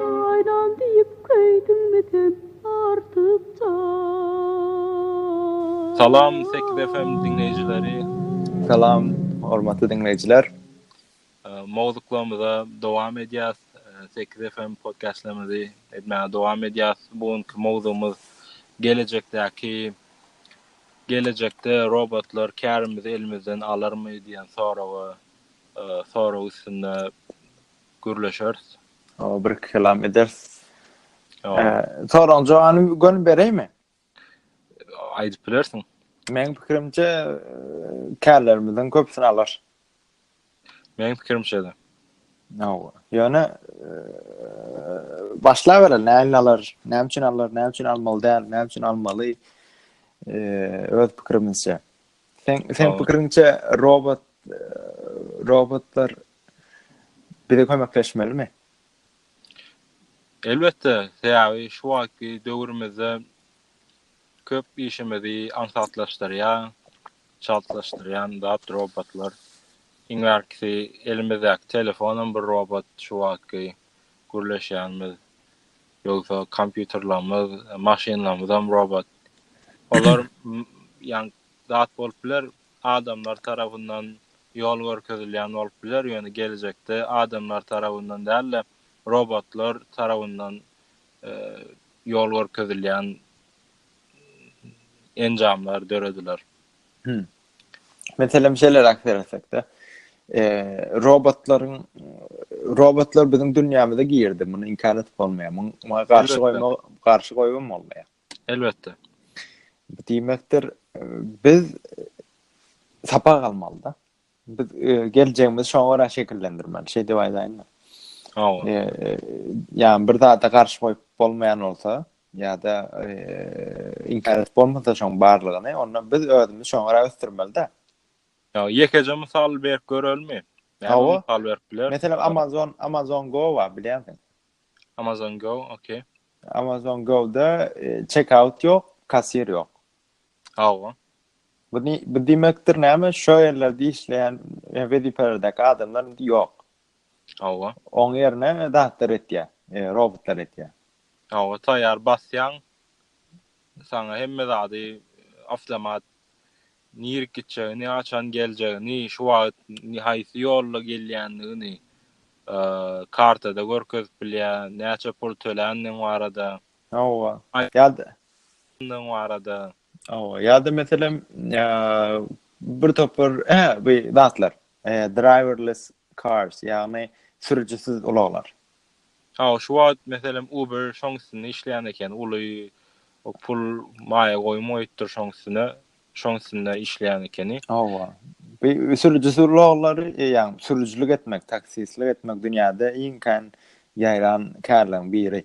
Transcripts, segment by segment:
Aýlan diýip köýdüňmi sen artykjan. Salam Sekiz FM diňleýjileri. Salam hormatly diňleýjiler. Mowzuklarymyza dowam edýäs. Sekiz FM podkastlarymyzy etmäge dowam edýäs. Bu günki mowzugymyz gelejekdäki Gelejekde robotlar kärimizi elimizden alarmy diýen soraga sorag üstünde gürleşeris. Hawa, bir-iki kelam ederis. Soragyň jogany göni bereýinmi? Aýdyp bilersiň. Meniň pikirimçe, kärlerimiziň köpüsini alar. Meň pikirim şeýle. Hawa. Ýöne başlabereler, näme alar, näme üçin alar, näme üçin almaly däl, näme üçin almaly? Öz pikirimizçe. Sen sen pikiriňçe robot robotlar bize kömekleşmelimi? Elbetde, sebäbi şu wagtky döwrümizde Köp işimizi aňsatlaşdyrýan, çaltlaşdyrýan zat robotlar. Iň bärkisi elimizdäki telefonam bir robot şu wagtky gürleşýänimiz. Ýogsa kompýuterlerimiz, maşynlarymyzam robot. Olar ýaňky zat bolup biler, adamlar tarapyndan ýol görkezilýän bolup biler, ýöne gelejekde adamlar tarapyndan däl-de, robotlar tarapyndan ýol görkezilýän enjamlar dörediler. Hmm. Meselem şeýleräk seretsekde, e, robotlaryň robotlar biziň dünýämize girdi. Muny inkar edip bolmaýar. Muňa garşy goýma, garşy goýum bolmaýar. Elbetde. Diýmekdir, biz sapak almalyda. Biz geljegimizi şoňa görä şekillendirmeli, şeý diýip aýdaýynmy? Hawa. Ýa bir zada garşy goýup bolmaýan bolsa, ýa-da inkär edip bolmasa şoň barlygyny, onda biz özümizi şoňa görä ösdürmeli-dä. Ýa ýekeje mysal berip görelmi? Hawa, mysal berip biler. Meselem, Amazon, Amazon Go bar, bilýärsiň. Amazon Go, okey. Amazon Go-da checkout ýok, kassir ýok. Hawa. Bu ni bu diýmekdir näme? Şo ýerlerde işleýän e, wezipelerdäki adamlar indi ýok. Hawa. Oň ýerine zatlar etýär, e, robotlar etýär. Hawa, taýýar basýaň. Saňa hemme zady e, awtomat nirik gitjegini, haçan geljegini, şu wagt ni- haýsy ýolla gelýändigini e, kartada görkezip bilýär, näçe pul töländigiň barada. Hawa. Ýa-da Aýdyňlygyň barada. Hawa, ýa-da meselem, bir topar, hä, bu zatlar, driverless cars, ýagny sürüjisiz ulaglar. Hawa, şu wagt meselem Uber şoň üstünde işleýän eken, uly pul maýa goýum goýupdyr şoň üstüne, şoň üstünde işleýän ekeni. Hawa. Bu sürüjisiz ulaglary, ýagny sürüjilik etmek, taksistlik etmek dünýäde iň kän ýaýran kärleriň biri.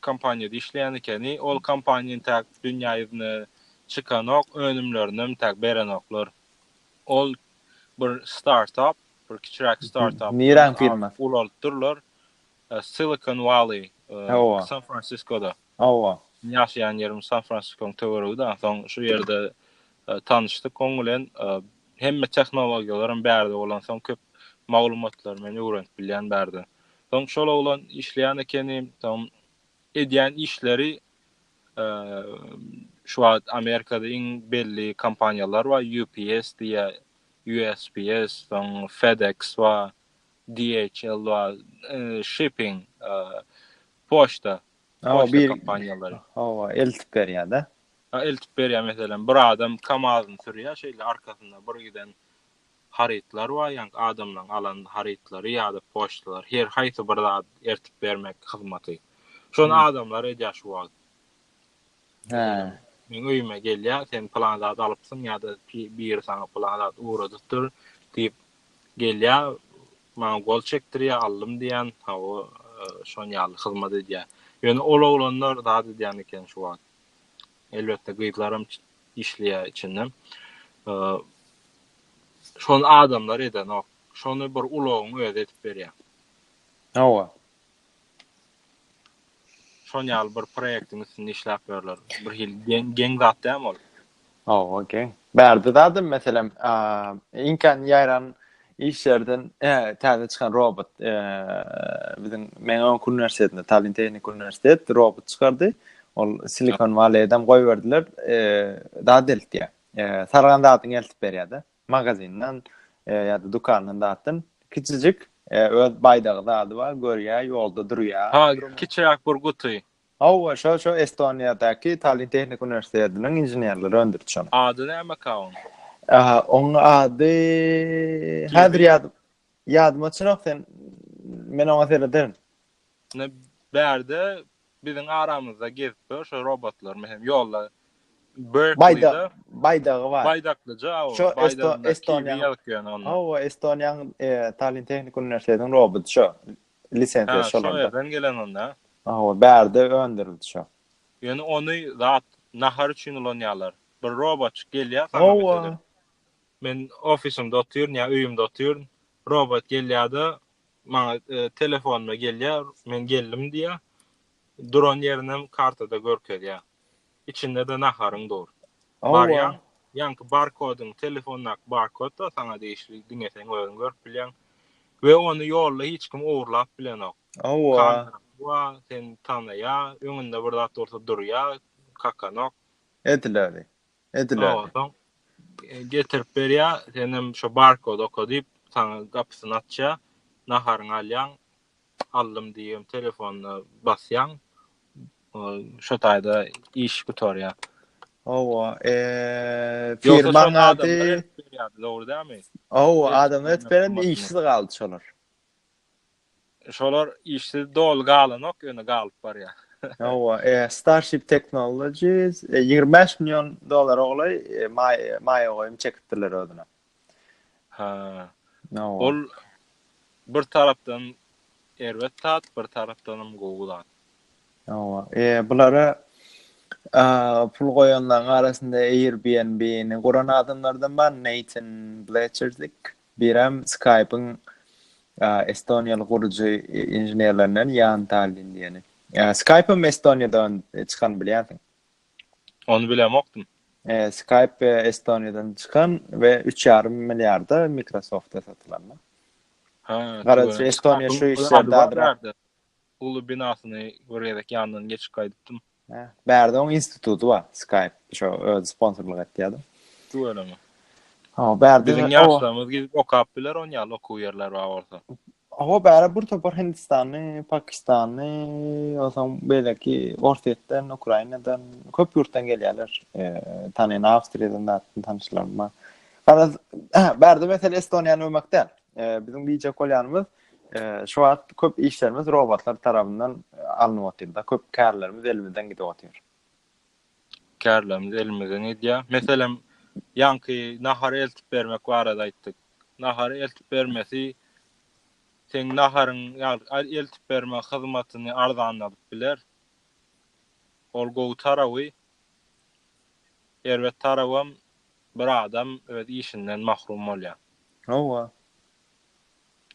kompaniýada işleýän ekeni. Ol kompaniýa intäk dünýä ýüzüne çykanok, önümlerinem intäk berenoklar. Ol bir startup, bir kiçiräk startup. Niräň firmasy? Ulaltdyrlar. Silicon Valley, San Fransiskoda. Hawa. Meniň ýaşaýan ýerim San Fransiskonyň töweregidi. Ansoň şu ýerde tanyşdyk oň bilen. Hemme tehnologiýalaram bärde bolansoň köp maglumatlary men öwrenip bilýän bärden. Soň şol oglan işleýän ekeni. Soň edýän işleri şu wagt Amerikada iň belli kompaniýalar bar, UPS diýýär, USPS, soň FedEx bar, DHL bar, shipping, poçta, poçta kompaniýalary. Hawa, eltip berýär-de. Eltip berýär, meselem, bir adam KAMAZ-yny sürýär, şeýle arkasynda bir giden harytlar bar, ýaňky adamlaryň alan harytlary ýa-da poçtalar, her haýsy bir zady eltip bermek hyzmaty. Şony adamlar edýär şu wagt. Meselem, meň öýüme gelýär, sen pylan zat alypsyň ýa-da biri saňa pylan zat ugradypdyr diýip gelýär, maňa gol çekdirýär, aldym diýýän, hawa, şon ýaly hyzmat edýär. Ýöne ol oglanlar zat edýän eken şu wagt. Elbetde gyzlaram işleýär içinden. Şony adamlar edenok. Şony bir ulagyň özi edip berýär. Hawa. Şon ýaly bir proýektiň üstünde işläp ýörler. Bir hil geň geň zat dämi ol? Hawa, geň. Bärde zadym meselem, iňkän ýaýran Iş ýerden täze çykan robot biziň Mengeon uniwersitetinde, Tallinn Tehniki Uniwersitet robot çykardy. Ol Silikon Valley-dem goýberdiler. Zat deltýär. Saragan zadyňy eltip berýär-de. Magazinden ýa-da dükandan zatdan. Kiçijik, öz baýdagy zady bar, görýär, ýolda durýar. Ha, kiçiräk bir guty. Hawa, şo, şo Estoniýadaky Tallinn Tehniki Uniwersitetiniň inženerleri öndüriji ony. Ady nämeka oň? Aha, oň ady häzir ýad ýadyma çynok sen men oňa serederin. Ne bärde biziň aramyzda gezip ýör şo robotlar mehem ýolda Berkeley-de baýdagy bar. Baýdaklyja o. Şo Estoniýa ýazyp ýörne onda. Hawa, Estoniýanyň Tallinn Tehniki Uniwersitetiniň roboty şo. lisensiýa şol onda. Şol ýerden gelen onda. Hawa, bärde öndürildi şo. Ýöne ony zat nahar üçin ulanýarlar. Bir robotçyk gelýär saňa meselem. Men ofisimde otyryn ýa öýümde otyryn. Robot gelýärde maňa telefonyma gelýär, men geldim diýýär. Duran ýerinem kartada görkezýär. içinde-de naharyň dur. Barýaň, ýaňky barkodyň, telefondaky barkod-da saňa degişli, diňe seň özüň görüp bilýäň we ony ýolda hiç kim ogurlap bilenok. Kamera wa, seni tanaýa, öňünde bir zat bolsa durýa, kakanok. Ediläli, ediläli. Soň getirip berýä, senem şo barkody oka diýip, saňa gapysyny açýa, naharyňy alýaň, aldym diýibem telefonyna basýaň şo taýda iş gutarýar. Hawa, eee firmaň ady dogry dälmi? Hawa, adamlar edip berende işsiz galdy şolar. Şolar işsiz doly galanok, ýöne galyp barýar. Hawa, eee Starship Technologies 25 million dollara golaý maýa goýum çekipdirler özüne. Ha. Ol bir tarapdan erbet zat, bir tarapdan hem gowy zat. Hawa. E, bulara a, pul goýanlaryň arasynda Airbnb-ni guran adamlardan bar, Nathan Bletcherzik, birem Skype-yň estoniýaly gurujy inženerlerinden Jan Tallin diýeni. Skype-ym Estoniýadan çykany bilýänsiň. Ony bilemokdym. Skype Estoniýadan çykan we üç ýarym milliarda Microsoft-a satylan. Garaşy Estoniýa şu işlerde uly binasyny bir gezek ýanyndan geçip gaýdypdym. Bärde oň instituty bar, Skype şo özi sponsorlyk etýärdi. Tüweleme. Biziň ýaşlarymyz gidip okap biler onýaly okuw ýerler bar bolsa. Hawa, bäri bir topar hindistanly, pakistanly, onsoň beýleki Orsýetden, Ukrainadan, köp ýurtdan gelýärler. Tanyn Awstriýadan da tanyşlarym bar. Garaz, bärde mesele Estoniýany öwmek däl. Biziň diýjek bolýanymyz, şu wagt köp işlerimiz robotlar tarapyndan alnyp otyrda, köp kärlerimiz elimizden gidip otyr. kärlerimiz elimizden edýär. Meselem, ýaňky nahary eltip bermek barada aýtdyk. Nahary eltip bermesi seň naharyň, ýagny eltip berme hyzmatyny arzanladyp biler. Ol gowy tarawy, erbet tarabam bir adam öz işinden mahrum bolýar. Hawa,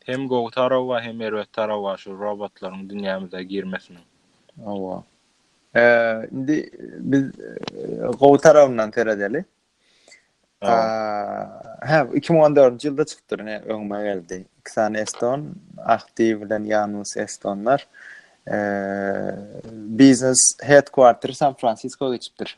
Hem gowy tarawa hem erbet tarawa şu robotlaryň dünýämize girmesiniň. Hawa. Indi biz gowy tarabyndan seredeli. Hä, iki müň on dördünji ýylda çykypdyr, ine, öňüme geldi. Iki sany eston, Ahti bilen Janus estonlar, biznes headquarter San-Fransisko geçipdir.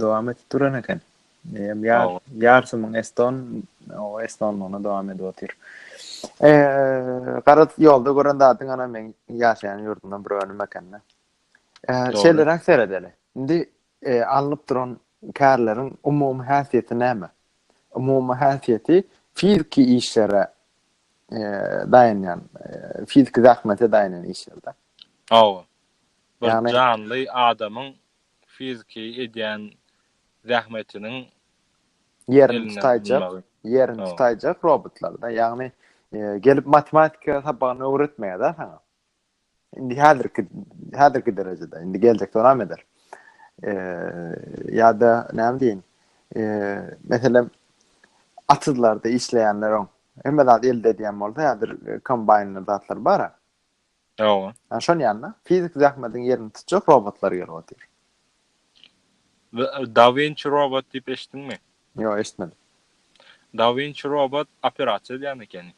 dowam edip duran eken. Eýem ýar ýarsymyň Eston o Estonlygyna dowam edip otyr. Eee gara ýolda gören zadyň ana men ýaşaýan ýurdumdan bir önüm ekende. Eee şeýleräk seredeli. Indi e, alnyp duran kärleriň umumy häsiýeti näme? Umumy häsiýeti fiziki işlere e, daýanýan, e, fiziki zähmete daýanýan işlerde. Hawa. Bir janly adamyň fiziki edýän zähmetiniň ýerini tutaýjak, ýerini tutaýjak robotlarda, ýagny gelip matematika sapagyny öwretmeýär-de saňa. Indi häzirki, häzirki derejede, indi geljekde onam eder. Ýa-da näme diýin, meselem, atyzlarda işleýänleriň hemme zady elde edýän bolsa, häzir kombaýnlar, zatlar bar-a. Hawa. Ýa şon ýaly-da, fiziki zähmediň ýerini tutjak robotlar gelip otyr. Da Vinci robot diýip eşitdiňmi? Ýok, eşitmedim. Da Vinci robot operasiýa edýän ekeni.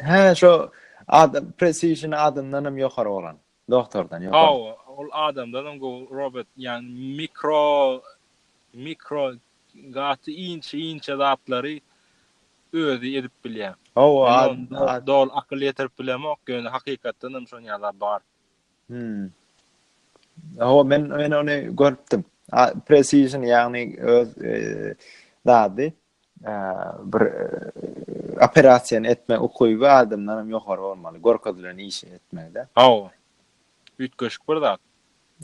Hä, şo adam Precision adamdanam ýokary bolan, doktordan ýokary. Hawa, ol adamdanam gowy robot, ýagny mikro mikro gaty inçe-inçe zatlary özi edip bilýär. Hawa adna. Doly akyl ýetirip bilemok ýöne hakykatdan hem şony ýazar bar. Hmm. Hawa men men ony görüpdim. Precision ýagny öz zady bir operasiýany etme ukyby adamdan hem ýokary bolmaly. Görkezilen işi etmekde. Hawa. Üýtgeşik bir zat.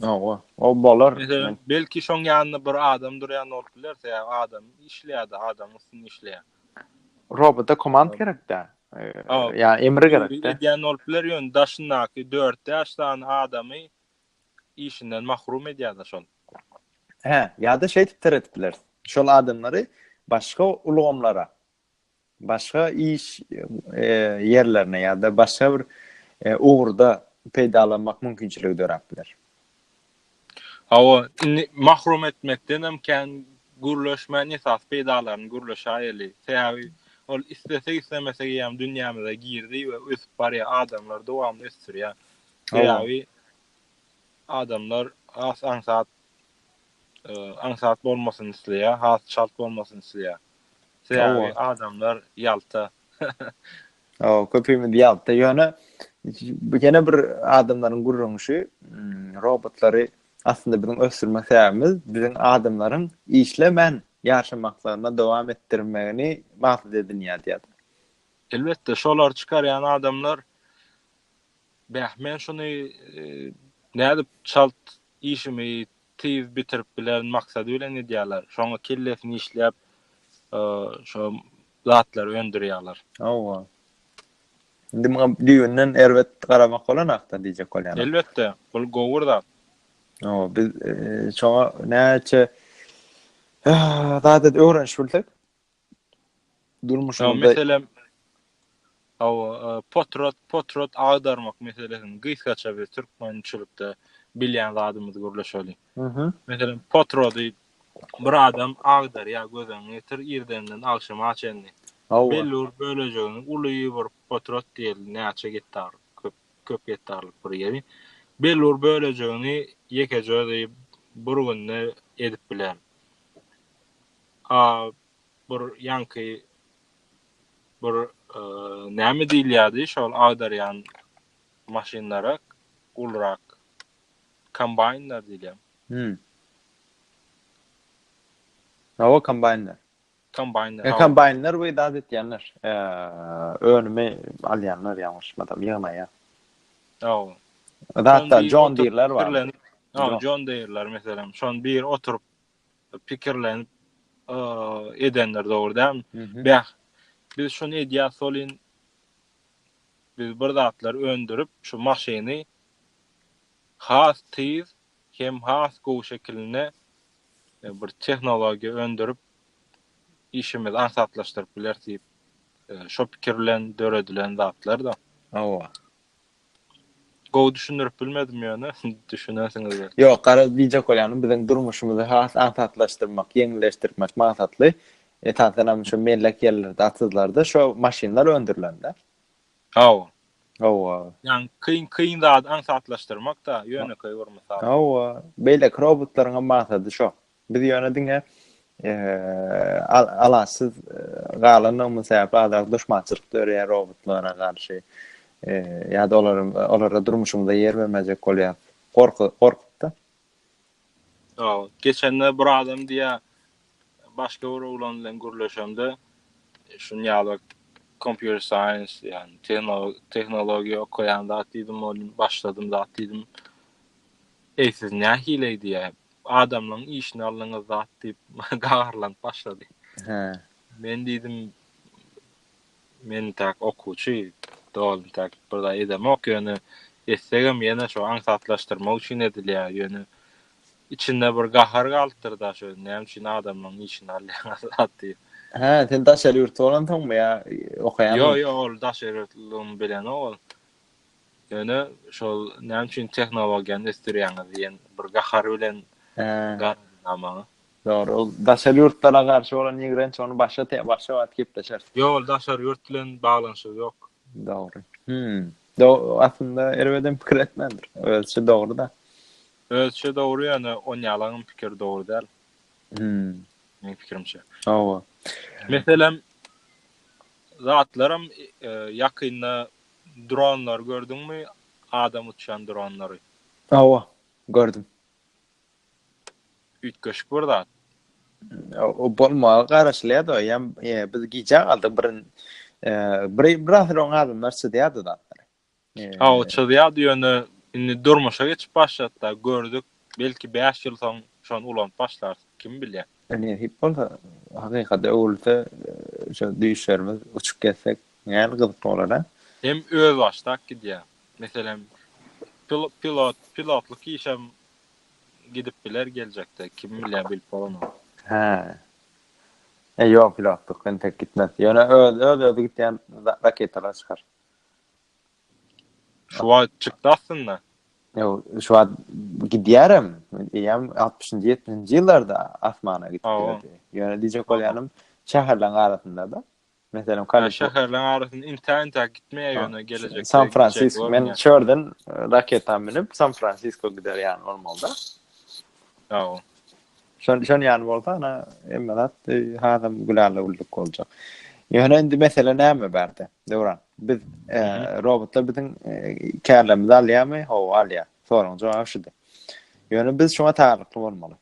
Hawa, o bolar. Meselem, belki şoň ýanynda bir adam durýan bolup biler, sebäbi adam işleýär-de, adam üstünde işleýär. Robota komand gerek-dä. Ýa emri gerek-dä. Edýän bolup biler, ýöne daşyndaky dört-bäş sany adamy işinden mahrum edýär-de şol. Hä, ýa-da şeýdip teretip bileris. Şol adamlary başga ulgamlara, başga iş ýerlerine ýa-da başga bir ugurda peýdalanmak mümkinçiligi döräp biler. Hawa, indi mahrum etmekden hem kän gürleşmän esasy peýdalaryny gürleşäýeli. Sebäbi ol islesek-islemesek eýýäm dünýämize girdi we ösüp barýar, adamlar dowamly ösdürýär. Sebäbi adamlar has aňsat aňsat bolmasyny isleýär, has çalt bolmasyny isleýär. Sebäbi adamlar ýalta. Hawa, köpimiz ýalta. Ýöne bu ýene bir adamlaryň gürrüňişi, hmm, robotlary aslynda biziň ösdürme sebäbimiz biziň adamlaryň işlemän ýaşamaklaryna dowam etdirmegini maksat edinýär diýýär. Elbetde, şolary çykarýan adamlar, bäh, men şuny e, nädip çalt Işimi tiz bitirip bilerin maksady bilen edýärler. Şoňa kellesini işläp şo zatlary öndürýärler. Hawa. Indi muňa düýbünden erbet garamak bolanakda diýjek bolýan. Elbetde, bul gowur zat. Hawa, biz şoňa näçe zat edip öwrenişip bilsek, durmuşymyzda meselem Hawa, potrat, potrat agdarmak meselesini gysgaça biz türkmençilikde bilýän zadymyzy gürleşeli. Mhm. Meselem, potrady bir adam agdarýar gözüň ýetir irdenden agşama çenli. Hawa. Belli bir bölejegini uly bir potrat diýeli, näçe gektar, köp köp gektarlyk bir ýeri. Belli bir bölejegini ýekeje özi bir günde edip biler. A bir ýaňky bir näme diýilýärdi şol agdarýan maşynlara ulurak kombaýnlar diýilýär. Hmm. Hawa kombaýnlar. Kombaýnlar. E, kombaýnlar we dad etýänler. E, önümi alýanlar ýalňyşmasam ýygnaýar. Hawa. Hatta John Deere-ler bar. Hawa, John Deere-ler meselem, şon bir oturyp pikirlenip edendir dogry däl bäh biz şuny edýär solin biz bir zatlar öndürip şu maşyny has tiz hem has gowy şekilinde e, bir tehnologiýa öndürip işimizi aňsatlaşdyryp biler diýip e, şo pikir bilen döredilen zatlar da. Hawa. Gowy düşündirip bilmedim ýöne düşünersiňiz belki. Ýok, garaz diýjek bolýanym biziň durmuşymyzy has aňsatlaşdyrmak, ýeňilleşdirmek maksatly esasanam şu mellek ýerlerde, atsyzlarda şu maşynlar öndürilende. Hawa. Hawa. Ýagny kyn kyn zady aňsatlaşdyrmak-da ýönekeý bir mysal. Hawa, beýleki robotlaryňam maksady şo. Biz ýöne diňe alaçsyz galanymyz sebäpli azrak duşmançylyk döreýär robotlara garşy. Ýa-da olar olara durmuşymyzda ýer bermejek bolýar. Gorky gorkupda. Hawa, geçende bir adam diýä başga bir oglan bilen gürleşemde şun ýaly computer science ýa-ni tehnologiýa okaýan zat diýdim, ol başladym zat diýdim. Eý, siz nähili eýdýä, adamlaň işini aldyňyz zat, diýip, gaharlanyp başlady. Hä. Men diýdim, Men täk okuwçy, doly täk bir zat edemok, ýöne etsegem ýene şo aňsatlaşdyrmak üçin edilýä, ýöne içinde bir gahar galypdyr-da, şo näme üçin adamlaň işini alýaňyz zat diýip. Hä, sen daşary ýurtly bolansoňmy ýa okaýanmy? Ýo, ýo, ol daşary ýurtlydygymy bilenok ol. Ýöne şol näme üçin tehnologiýany ösdürýäňiz diýen bir gahar bilen garady maňa. Dogry, ol daşary ýurtlara garşy bolan ýigrenç, ony başga te, başga wagt gepleşeris. Ýok, ol daşary ýurt bilen baglanyşygy ýok. Dogry. Hümm. Do, aslynda erbedem pikir etmändir. Özüçe dogry-da. Özüçe dogry, ýöne on ýalaňam pikir dogry däl. Hümm. Meň pikirimçe. Hawa. Meselem, zatlaram e, ýakynda Dronlary gördüňmi adam uçýan dronlary. Hawa gördüm. Üýtgeşik bir zat. O bolmaga garaşylýar da ýa biz gijä galdyk bir bir bir asyr adamlar çyzýardy zatlary. Hawa çyzýardy ýöne indi durmuşa geçip başlady da gördük. Belki bäş ýyl soň şony ulanyp başlarys, kim bilýär. Nesip bolsa, hakykata öwrülse, şo düýşlerimiz uçup gezsek, nähili gyzykly bolar-a? Hem özbaşdak gidýär. Meselem, pilot, pilotlyk işem gidip biler geljekde, kim bilýär, bilip bolanok. Hä. E, ýok, pilotlyk entek gitmez. Ýöne öz-özi gidýän raketalar çykar. Şu wagt çykdy aslynda. Ýok, şu wagt gidýärem. Eýýäm 60-70-nji ýyllarda asmana gitdi. Ýöne diýjek bolýanym, şäherleriň arasynda-da. Meselem, Kaliforniýa. Şäherleriň arasynda intä-intä gitmeýär ýöne geljekde. San Fransisko, men şu ýerden raketa münüp San Fransisko gider ýaly bolmalyda. Ýok. Şon şon ýaly bolsa, ana, emmelat hazam gülala güllük boljak. Ýöne indi mesele näme bärde? Döwran, biz e, robotlar biziň e, kärlerimizi alýarmy? Hawa, alýar. Soragyň jogaby şudy. Ýöne biz şuňa taýýarlykly bolmaly.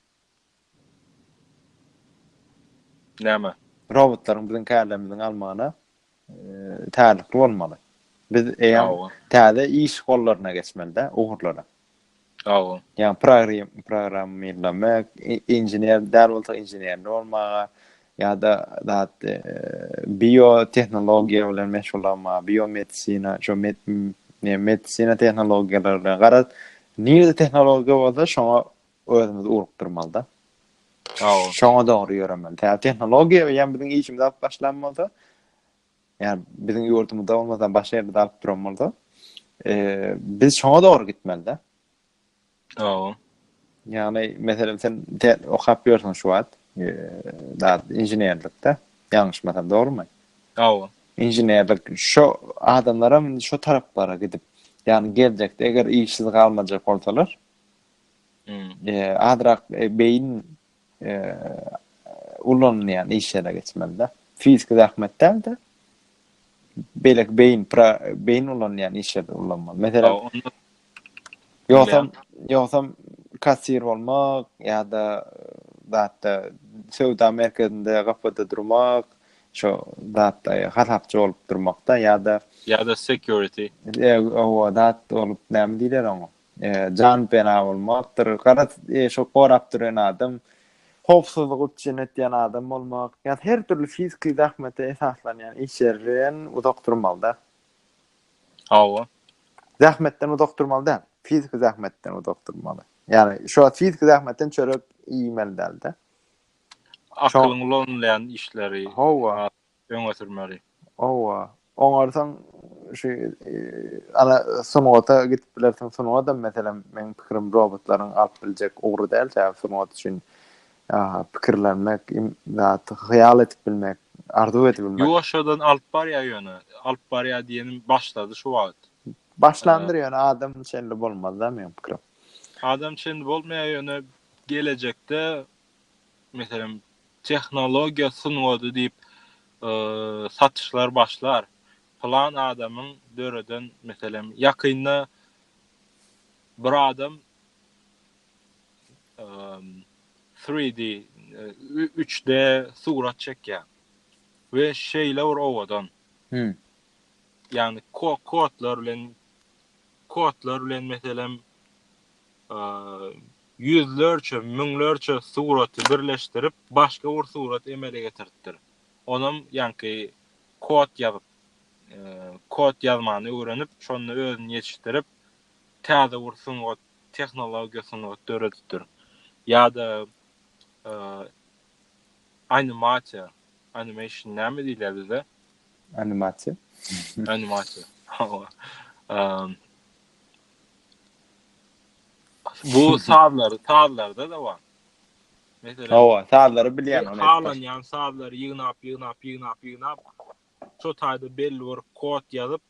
Näme? Robotlaryň biziň kärlerimiziň almagyna e, taýýarlykly bolmaly. Biz eýe täze iş gollaryna geçmeli-de, ugurlara. Sag bol. Ýa program programmirlemek, inžener däl bolsa inženerli bolmaga ýa-da zat e, biotehnologiýa bilen meşgullanma, biomedisina, şu med, ne, medisina tehnologiýalary bilen. Garaz, nirede tehnologiýa bolsa şoňa özümizi urukdyrmaly-da. Sag bol. Şoňa dogry ýöremeli. Tä tehnologiýa bilen biziň işimiz alyp başlan bolsa, Ýani biziň ýurdumyzda bolmasa başga ýerde dalyp duran bolsa, eee, biz şoňa dogry gitmelide. Hawa. Ýani meselem sen te okap ýörsiň şu wagt, eee, dat inženerlikde. Ýalňyşmasam dogrymy? Hawa. Inženerlik şo adamlaram indi şo taraplara gidip, ýani geljekde eger işsiz galmajak bolsalar, Hmm. eee, azrak e, beýin ulanylýan iş ýerine geçmeli-de. Fiziki zähmet däl-de, beýleki beýin, beýin ulanylýan iş ýerde ulanmaly. Meselem, ýogsam, ýogsam kassir bolmak ýa-da zatda söwda merkezinde gapyda durmak, şo zatda hasapçy bolup durmakda ýa-da ýa-da security. Ýa-da zat bolup näme diýler oňa? Jan pena bolmakdyr. Gara şu gorap duran adam howpsuzlyk üçin etýän adam bolmak. Ýa her dürli fiziki zähmete esaslanýan iş ýerinden uzak durmalyda. Hawa. Zähmetden uzak durmaly däl. Fiziki zähmetden uzak durmaly. Ýani şu fiziki zähmetden çörek iýmeli däl-de. Akylyň ulanylýan işleri. Hawa. öňe sürmeli. Hawa, oňarsaň şu ana sungata gidip bilersiň. Sungatam meselem meň pikirim robotlaryň alyp biljek ugry däl. Sebäbi sungat üçin pikirlenmek, zat hyýal edip bilmek, arzuw edip bilmek. Ýuwaşjadan alyp barýar ýöne. Alyp barýar diýenim başlady şu wagt. Başlandyr ýöne adam şeýle bolmaz-da meň pikirim. Adam şeýle bolmaýar ýöne gelejekde meselem, tehnologiýa sungady diýip, satyşlar başlar. Pylan adamyň döreden, meselem, ýakynda bir adam 3D, üç D, surat çekýär we şeýle bir owadan. Ýagny kodlar bilen, kodlar bilen, meselem, Ýüzlerçe, müňlerçe suraty birleşdirip, başga bir surat emele getiripdir. Onam ýaňky kod ýazyp, kod ýazmany öwrenip, şonda özüni ýetişdirip, täze bir sungat, tehnologiýa sungat döredipdir. Ýa-da animasiýa, animation näme diýilýär bizde? Animasiýa. Animasiýa. Hawa. Bu sazlary, sazlarda-da bar. Meselem, Hawa, sazlary bilýän ony. Halanýan sazlary ýygnap, ýygnap, ýygnap, ýygnap, şo taýda belli bir kod ýazyp,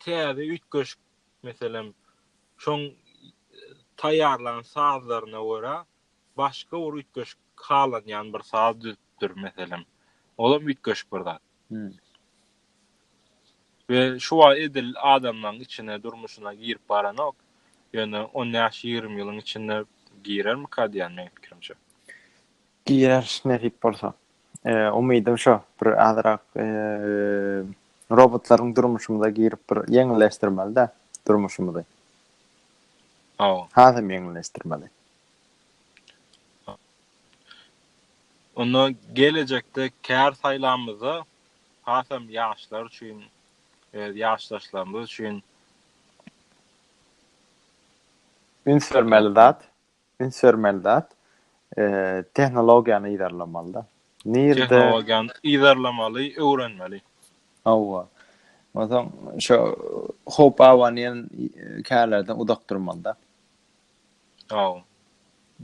täze üýtgeşik, meselem, şoň taýýarlan sazlaryna görä, başga bir üýtgeşik halanýan bir saz düzüpdir, meselem. Olam üýtgeşik bir zat. We şu wagt edil adamlaň içine durmuşyna girip baranok. Ýöne on bäş ýigrimi ýylyň içinde girermika diýýän meň pikirimçe. Girer nesip bolsa. Umydym şo bir azyrak robotlaryň durmuşymyza girip bir ýeňilleşdirmelidä durmuşymyzy. Hawa. Hasam ýeňilleşdirmeli. Onda gelejekde kär saýlamyzda hasam ýaşlar üçin, öz ýaşdaşlarymyz üçin. Üns bermeli zat, üns bermeli zat, tehnologiýany yzarlamaly-da. Nirede? Tehnologiýany yzarlamaly, öwrenmeli. Hawa. Onsoň şo howp abanýan kärlerden uzak durmaly-da. Aw.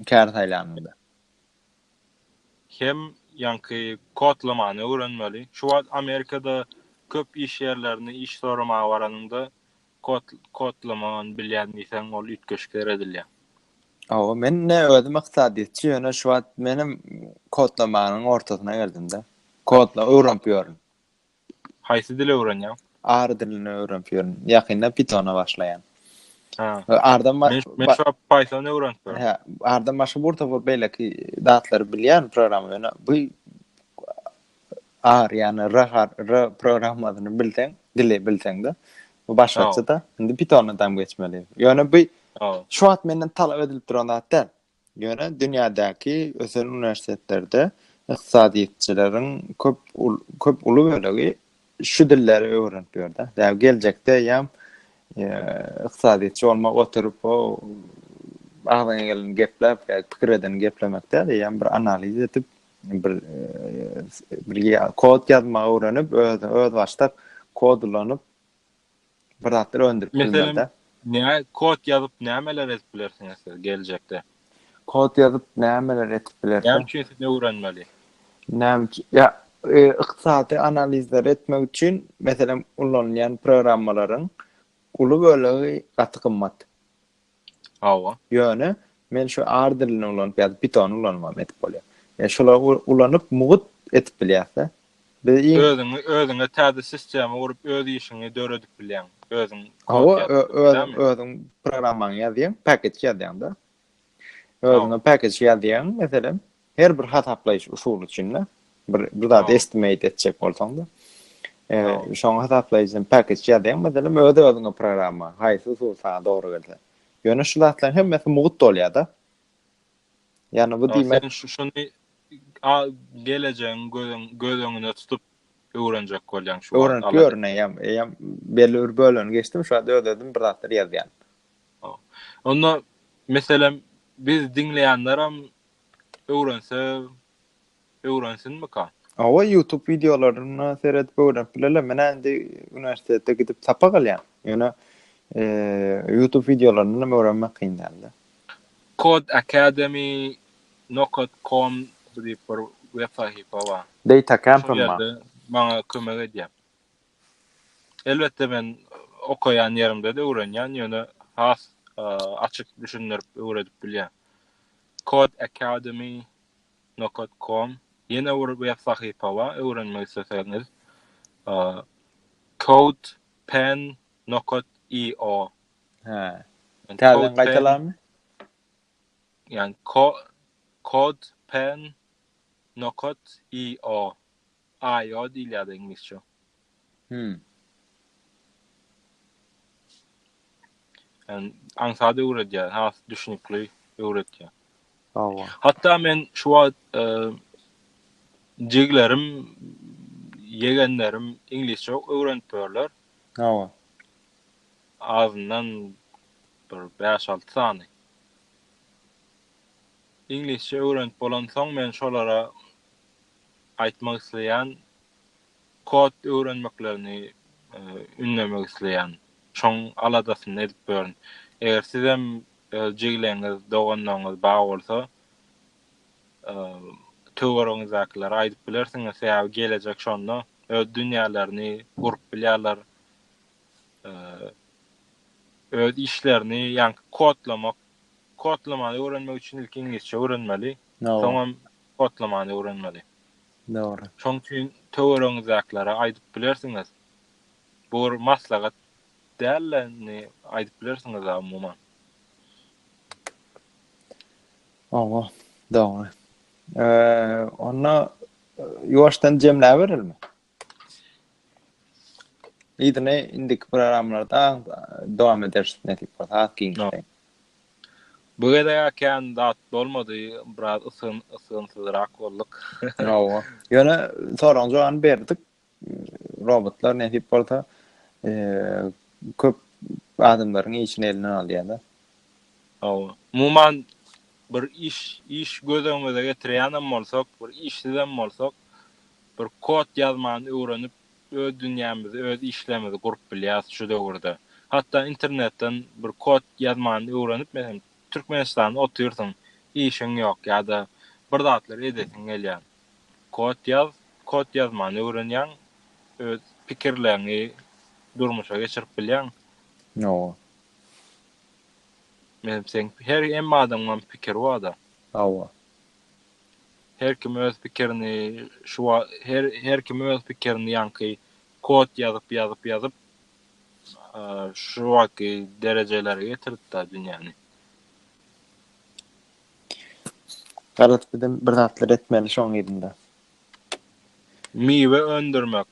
Kär saýlanyňda. Hem ýaňky kodlamany öwrenmeli. Şu wagt Amerikada köp iş ýerlerine iş soramaga baranyňda kod kodlamany bilýän diýseň ol üýtgeşikler edilýär. Aw, men ne özüm ykdysadyýetçi ýöne şu wagt menem kodlamanyň ortasyna geldim-de. Kodla öwrenip ýörün. Haýsy dili öwrenýäň? R dilini öwrenip ýörün. Ýakynda Pythona başlaýan. Ha. Ardan men men şu Python öwrenip ýörün. Ha, ardan başga bir topar beýleki datlary bilýän programma ýöne bu R ýani R har R programmasyny bilseň, dili bilseňde bu başgaça da. Indi Pythona dam geçmeli. Ýöne bu şu wagt menden talap edilip duran zat däl. Ýöne dünýädäki ösen uniwersitetlerde ykdysadyýetçileriň köp köp uly bölegi şu dilleri öwrenip ýör-de. Däbi geljekde eýýäm ykdysadyýetçi bolmak oturyp o agzyňa geleni gepläp ýa-da pikir edeni geplemek däl, eýýäm bir analiz edip, bir bir kod ýazmagy öwrenip, öz özbaşdak kod ulanyp, bir zatlar öndürip bilmeli-de. Meselem, kod ýazyp nämeler edip bilersiňiz siz geljekde? Kod ýazyp nämeler edip bilersiň? Näme üçin siz öwrenmeli? Näme üçin? Ýa, ykdysady analizleri etmek üçin, meselem, ulanylýan programmalaryň uly bölegi gaty gymmat. Hawa. Ýöne men şu R dilini ulanyp ýa-da Python ulanmam edip bolýar. Ýa şolary ulanyp mugut edip bilýäs-de. Biz iň Özüňi özüňe täze sistema gurup öz işiňi döredip bilýäň. Özüň kod ýazyp bilýäňmi? Hawa özüň özüň programmaňy ýazýaň, package ýazýaň-da. Özüňe package ýazýaň meselem, Her bir hasaplaýyş usuly üçin-de bir bir zat estimate etjek bolsaň-da, şoňa hasaplaýjyny package ýazýaň, meselem, öz-özüňe programma, haýsy usul saňa dogry gelse. Ýöne şu zatlaryň hemmesi mugt bolýar-da. Ýagny bu diýmek. Sen şu şuny gelejegiň gözüň göz öňünde tutup öwrenjek bolýaň şu. Öwrenip ýörünäýem, eýem belli bir bölegini geçdim, şu wagt öz-özüm bir zatlar ýazýan. Onda meselem biz diňleýänler hem öwrense öwrensinmika? Hawa YouTube videolaryna seredip öwrenip bilerler. Menä indi uniwersitetde gidip sapak alýan. Ýöne YouTube videolaryndan hem öwrenmek kyn däldi. Code Academy Nokat Com diýip bir web sahypa bar. Data Camp hem bar. Maňa kömek edýär. Elbetde men okaýan ýerimde-de öwrenýän, ýöne has açyk düşündirip öwredip bilýän. Kod Academy nokat kom ýene bir web sahypa bar, öwrenmek isleseňiz. Code pen nokat io. Hä. Täzeden gaýtalarmy? Ýani kod pen nokat io. IO diýilýärdi iňlisçe. Hümm. Ýagny aňsat öwredýär, has düşnükli öwredýär. Hawa. Hatda men şu wagt e, jiglerim, ýegenlerim iňlisçe öwrenip ýörler. Hawa. Azyndan bir 5-6 sany. Iňlisçe öwrenip bolansoň men şolara aýtmak isleýän, kod öwrenmeklerini ündemek isleýän. Şoň aladasyny edip görün. Eger sizem öz jigleňiz, doganlaryňyz bar bolsa, töweregiňizdäkilere aýdyp bilersiňiz, sebäbi gelejek şonda öz dünýälerini gurup bilýärler, öz işlerini, ýaňky kodlamak, kodlamany öwrenmek üçin ilki iňlisçe öwrenmeli, soňam kodlamany öwrenmeli. Dogry. Şoň üçin töweregiňizdäkilere aýdyp bilersiňiz. Bu bir maslahat däl-de, indi aýdyp bilersiňiz-ä umuman. Hawa, dogry. Onda ýuwaşdan jemläberelimi? Ýüzüne indiki programlarda dowam ederis nesip bolsa az giňişleýin. Bu gezek kän zat bolmady, biraz ysgyn ysgynsyzrak bolduk. Hawa. Ýöne soragyň jogabyny berdik. Robotlar nesip bolsa köp adamlaryň işini elinden alýar-da. Hawa. Umuman bir iş iş göz öňümize getirýänem bolsak, bir işsizem bolsak, bir kod ýazmany öwrenip öz dünýämizi öz işlerimizi gurup bilýäs şu döwürde. Hatda internetden bir kod ýazmany öwrenip meselem Türkmenistanda otyrsyň işiň ýok ýa-da bir zatlar edesiň gelýär. Kod ýaz, kod ýazmany öwrenýäň öz pikirleriňi durmuşa geçirip bilýäň. Hawa. Meselem seň her hemme adamyň pikiri barda. Hawa. Her kim öz pikirini şu wa her her kim öz pikirini ýaňky kod ýazyp ýazyp ýazyp şu wagtky derejelere getiripda dünýäni. Garaz bizem bir zatlar etmeli şoň yzynda. Miwe öndürmek,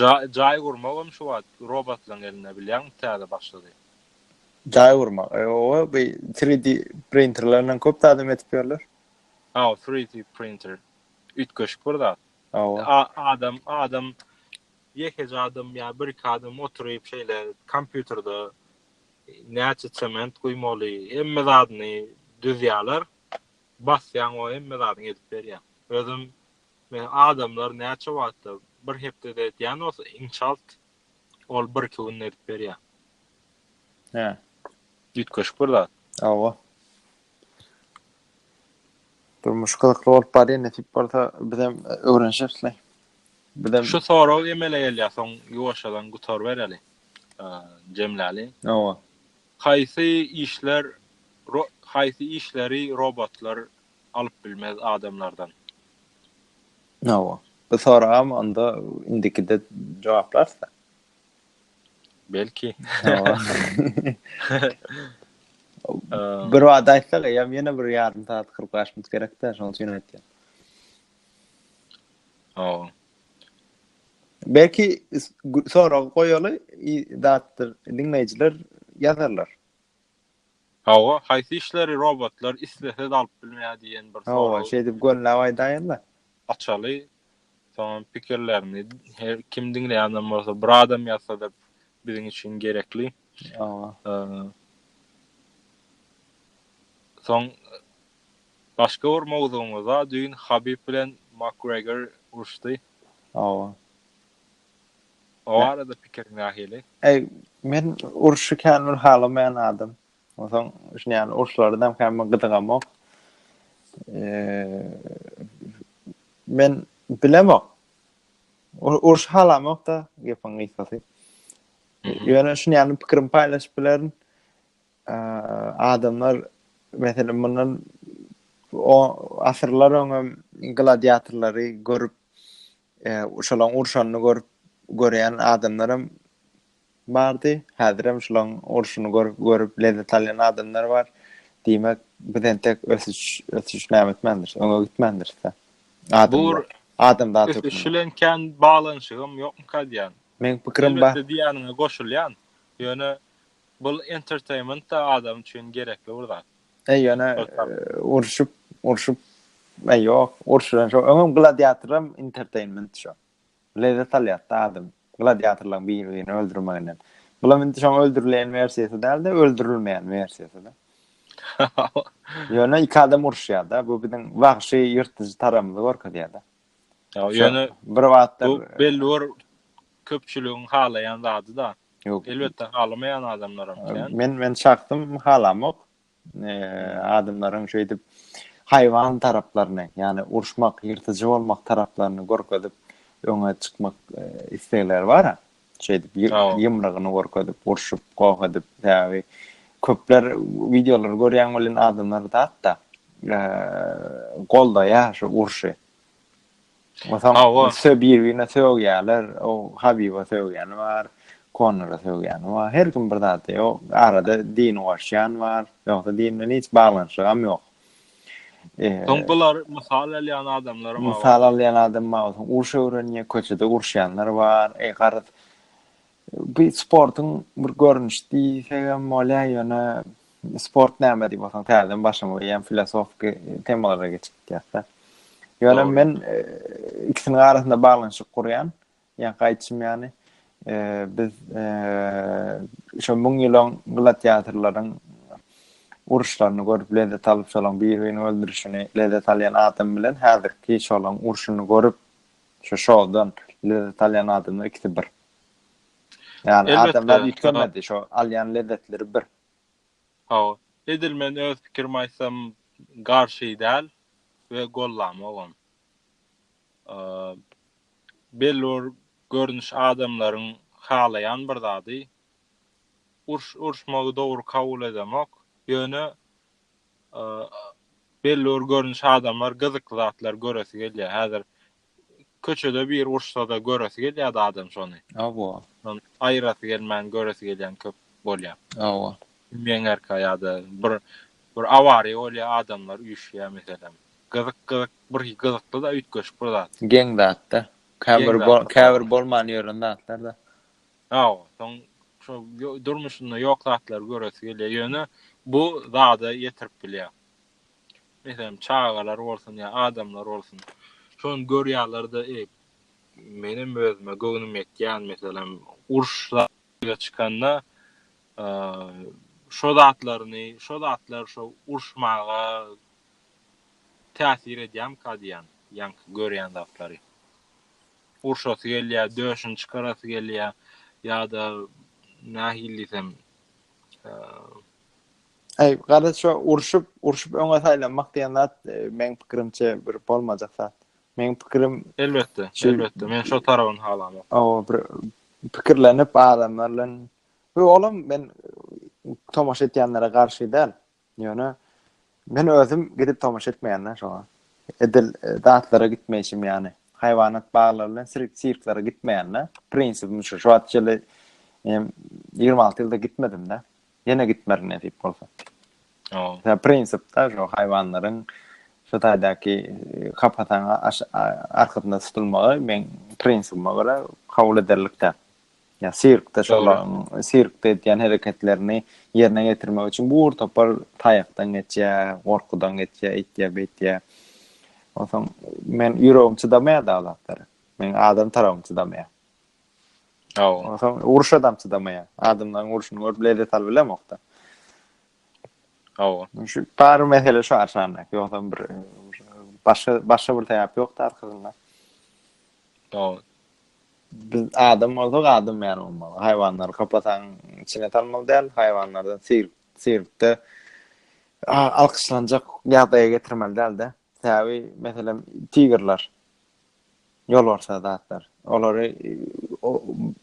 jaý jaý gurmagam şu wagt robotlaň elinde bilýäňmi täze başlady. Jaý gurmak, oba bu 3D printerlerden köp zat hem edip ýörler. Hawa, 3D printer. Üýtgeşik bir zat. Hawa. Adam, adam ýekeje adam ýa bir-iki adam oturyp şeýle kompýuterde näçe sement guýmaly, hemme zadyny düzýärler. Basýaň o hemme zadyňy edip berýär. Özüm men adamlar näçe wagtda bir hepdede edýän bolsa inşalt Ol bir iki günde edip berýär. Hä. Üýtgeşik bir zat. Hawa. Durmuş gyzykly bolup barýar, nesip bolsa bizem öwrenişeris leý. Bizem Şu sorag emele gelýär, soň ýuwaşjadan gutarybereli. Jemläli. Hawa. Haýsy işler haýsy işleri robotlar alyp bilmez adamlardan. Hawa. Bu soragam onda indikide jogaplarys-da. Belki. Hawa. Bir wada aýtsak, eýýäm ýene bir ýarym sagat kyrk bäş minut gerek-dä, şonuň üçin aýtýan. Hawa. Belki sorag goýaly, zatdyr, diňleýjiler ýazarlar. Hawa, haýsy işleri robotlar islese-de alyp bilmeýär diýen bir sorag. Hawa, şeýdip gönläp aýdaýynda. Açaly, soňam pikirlerini her kim diňleýänden bolsa bir adam ýazsa-da biziň üçin gerekli. Hawa. Soň başga bir mowzugymyza düýn Habib bilen Makgregor uruşdy. Hawa. O barada pikiriň nähili? Eý, men urşy kän bir halamaýan adam. Onsoň şuny ýaly urşlardanam kän bir gyzygamok. Men bilemok. Urşy halamok-da gepiň gysgasy. Ýöne şuny ýaly pikirimi paýlaşyp bilerin. Adamlar meselem mundan o asyrlar öňem gladiatorlary görüp Şolaň urşanyny görüp göreýän adamlaram bardy. Häzirem şolaň urşuny görüp görüp lezzet alýan adamlar bar. Diýmek, biz entek ösüş ösüş näme etmändiris, öňe gitmändiris-dä. Adamlar adam zat ösüş. Ösüş bilen kän baglanyşygym ýokmyka diýýän. Meň pikirim bar. Elbetde diýýäniňe goşulýan. Ýöne bul entertainment-da adam üçin gerekli bir zat. Eý ýöne urşup, urşup eý ýok, urşulan şo. Öňem gladiatoram entertainment şo. Lezzet alýar-da adam. Gladiatorlaryň biri-birini öldürmeginden. Bulam indi şoň öldürilen versiýasy däl-de, öldürilmeýän versiýasy-da. Ýöne iki adam urşýar-da, bu biziň wagşy ýyrtyjy tarapymyzy görkezýär-de. Ýöne bir wagtlar belli bir köpçüligiň halaýan zady-da. Elbetde halamaýan adamlar hem. Men men şahsym halamok. Adamlaryň şeýdip haýwan taraplaryny, ýagny urşmak, ýyrtyjy bolmak taraplaryny görkezip öňe çykmak islegleri bar. şeýdip ýumrugyny görkezip urşup goh edip sebäbi köpler wideolary görýän welin adamlar zatda goldaýar şu urşy Mesela bir birine sögýärler, o Habiba sögýäni bar, Konora sögýäni bar. Her kim bir zat diýýär. Arada din goşýan bar. Ýogsa dinden hiç baglanyşygam ýok. Soň bular mysal alýan adamlar bar. Mysal alýan adam bar, soň uruş öwrenýär, köçede uruşýanlar bar. Eý, garaz, bu sportuň bir görnüşi diýsek hem bolýar, ýöne sport näme diýip bolsaň, täzeden başlamaly ýa filosofiki temalara geçip gitýäs-de. Ýöne men ikisiniň arasynda baglanyşyk gurýan. Ýa gaýtçym ýany biz şo müň ýylyň gladiatorlaryň uruşlaryny görüp lezzet alyp şolaň bir-birini öldürişini lezzet alýan adam bilen häzirki şolaň urşuny görüp şu şowdan lezzet alýan adamlar ikisi bir. Ýani adamlar ýitgenmedi, şo alýan lezzetleri bir. Hawa. Edil men öz pikirimi aýtsam garşy däl we gollamagam. belli bir görnüş adamlaryň halaýan bir zady. Uruş uruşmagy dogry kabul edemok. Ýöne belli bir görnüş adamlar gyzykly zatlar göresi gelýär. Häzir köçede biri uruşsa-da göresi gelýärdi adam şony. Hawa. Aýyrasy gelmän göresi gelýän köp bolýar. Hawa. Meňerkä ýa-da bir bir awariýa bolýar, adamlar üýşýär meselem. Gyzyk gyzyk Bir gyzykly-da üýtgeşik bir zat. Geň zat-da. Käbir käbir bolman ýören zatlar-da. Hawa, soň şo durmuşynda ýok zatlary göresi gelýär. Ýöne bu zada ýetirip bilýär. Meselem, çagalar bolsun ýa adamlar bolsun. Şony görýärler-de, eý, menem özüme göwnüm ýetýän, meselem, uruş ýüze çykanda şo zatlaryny, şo zatlar şo uruşmaga täsir edýärmika diýýän ýaňky görýän zatlary. Urşasy gelýär, döşüni çykarasy gelýär ýa-da nähili diýsem, Aý, garaz şo urşup, urşup öňe saýlanmak diýen zat e, meň pikirimçe bir bolmajak zat. Meň pikirim Elbetde, elbetde. Men şo tarabyny halamok. Awa, bir pikirlenip adamlar bilen. Bu olam men tomaşa etýänlere garşy däl. Ýöne men özüm gidip tomaşa etmeýän-dä şoňa. Edil zatlara gitmeýşim ýaly. Haýwanat baglary bilen sirk sirklere gitmeýän-dä. Prinsibim şu. Şu wagta çenli em, ýigrimi alty ýylda gitmedim-dä. Ýene gitmerin nesip bolsa. O. Ýa prinsipde şu haýwanlaryň şu taýdaky e, kapasaň aş- a- arkasynda tutulmagy meň prinsibime görä kabul ederlik däl. ýa sirkde şolaryň sirkde edýän hereketlerini ýerine getirmek üçin bu ur topar taýakdan geçýär, gorkudan geçýär, eýtýär, beýtýär. Onsoň men ýüregim çydamaýar da zatlara. Men adam tarabym çydamaýar. Aw. Onsoň uruş adam çydamaýar. Adamlaryň uruşyny görüp lezzet alyp bilemokda. Aw. Şu bar mesele şu arşanda. Ýogsa bir başga başga bir sebäp ýokda arkasynda. Aw. Biz adam bolsak, adam ýaly bolmaly. Haýwanlary kapasaň, içine salmaly däl. Haýwanlardan sir, sirkde alkyşlanjak ýagdaýa getirmeli däl-de. Täwi, meselem, tigrler. Ýolbarsa zatlar. Olary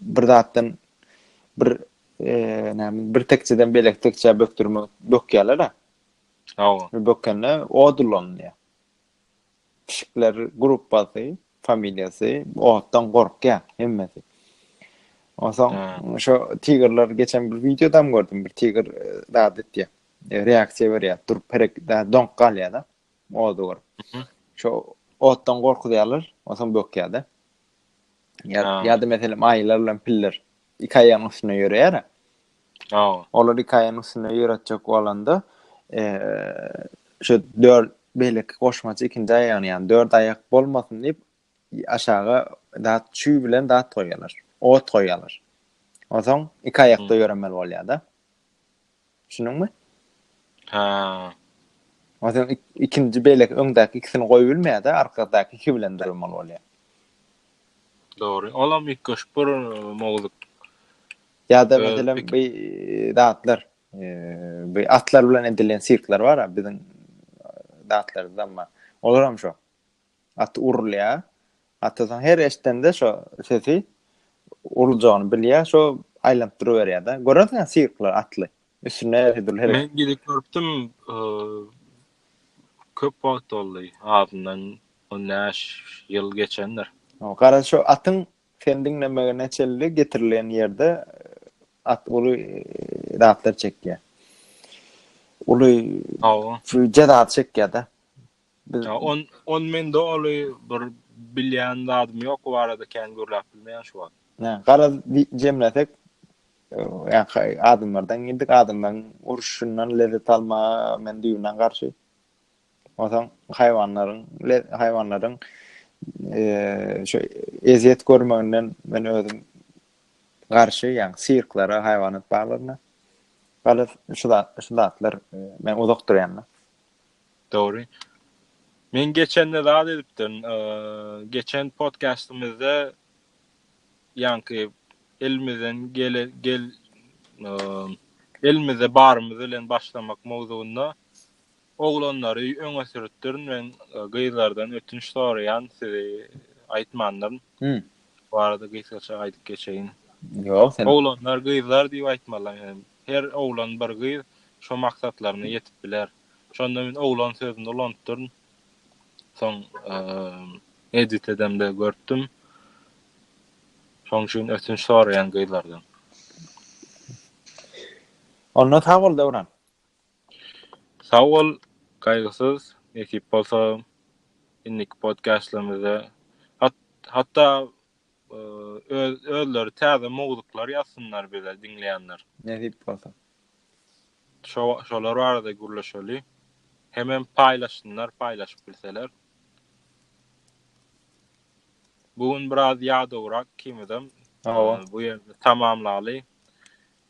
bir zatdan bir näme, bir tekjeden beýleki tekjä bökdürmek, bökýärler-ä. Hawa. Bökende od ulanylýar. pişikler gruppasy, familiýasy otdan gorkýar hemmesi. Onsoň şo tigerler geçen bir wideodam gördüm. Bir tiger zat e, etýär. E, reaksiýa berýär. Durup perek donk galýar-da. Ody görüp. Mhm. Şo otdan gorkuzýarlar, onsoň bökýär-de. Ýa-da meselem aýylar bilen piller iki aýagyň üstünde ýöreýär-ä. Hawa. Olar iki aýagyň üstünde ýöretjek bolanda, şu dört beýleki goşmaça ikinji aýagyny, ýagny dört aýak bolmasyn diýip, aşaga dat çüý bilen dat goýýarlar, ot goýýarlar. Onsoň iki aýakda ýöremeli bolýar-da. Düşündüňmi? Ha. O sen ikinji belek öňdäki ikisini goýup bilmeýär-de, arkadaky iki bilen durmaly bolýar. Dogry. Olam ilk goşup bir mowzuk. Ýa-da meselem bu datlar, bu atlar bilen edilen sirkler bar-a, biziň datlarymyzda bar. Olar hem şo. At urulýar. Atasynyň her eşdende şo sesi uruljagyny bilýär, şo aýlanyp duruberýär-de. Görersiň-ä sirkler atly. Üstünde her dürli hereket. Men gidip görüpdim, köp wagt boldy, azyndan on bäş ýyl geçendir. Garaz, şo atyň seni diňlemegine çenli getirilen ýerde at uly zatlar çekýär. Uly jezany çekýär-de. Biz on on men doly bir bilýän zadym ýok bu barada kän gürläp bilmeýän şu wagt. Nä, garaz jemlesek ýa-ha adamlardan geldik, adamlaryň uruşyndan lezzet almaga men düýbünden garşy. Onsoň haýwanlaryň, haýwanlaryň eee şu ezýet görmeginden men özüm garşy, ýagny sirklara, haýwanat baglaryna. Garaz şu zatlar men uzak durýan. Dogry. Men geçende zat edipdim. Geçen podkastymyzda ýaňky elimizden gele gel elimizde barymyz bilen başlamak mowzugynda oglanlary öňe sürüpdirin we gyzlardan ötünç soraýan sizi aýtmandyryn. Hmm. Bu arada gysgaça aýdyp geçeýin. Ýok, sen oglanlar, gyzlar diýip aýtmaly. Her oglan bir gyz şu maksatlaryna ýetip biler. Şonda men oglan sözüni ulanypdyryn. Soň edit edemde görüpdim. Şoň üçin ötünç soraýan gyzlardan. Onda sag bol Döwran. Sag bol, gaýgysyz, nesip bolsa indiki podkastlarymyzda hatda özleri täze mowzuklar ýazsynlar bize diňleýänler. Nesip bolsa. Şolar barada gürleşeli. Hemem paýlaşsynlar paýlaşyp bilseler. Bu gün biraz ýadawrak kimidem. Bu ýerde tamamlaly.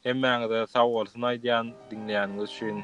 Hemmäňize sag bolsun aýdýan diňleýäniňiz üçin.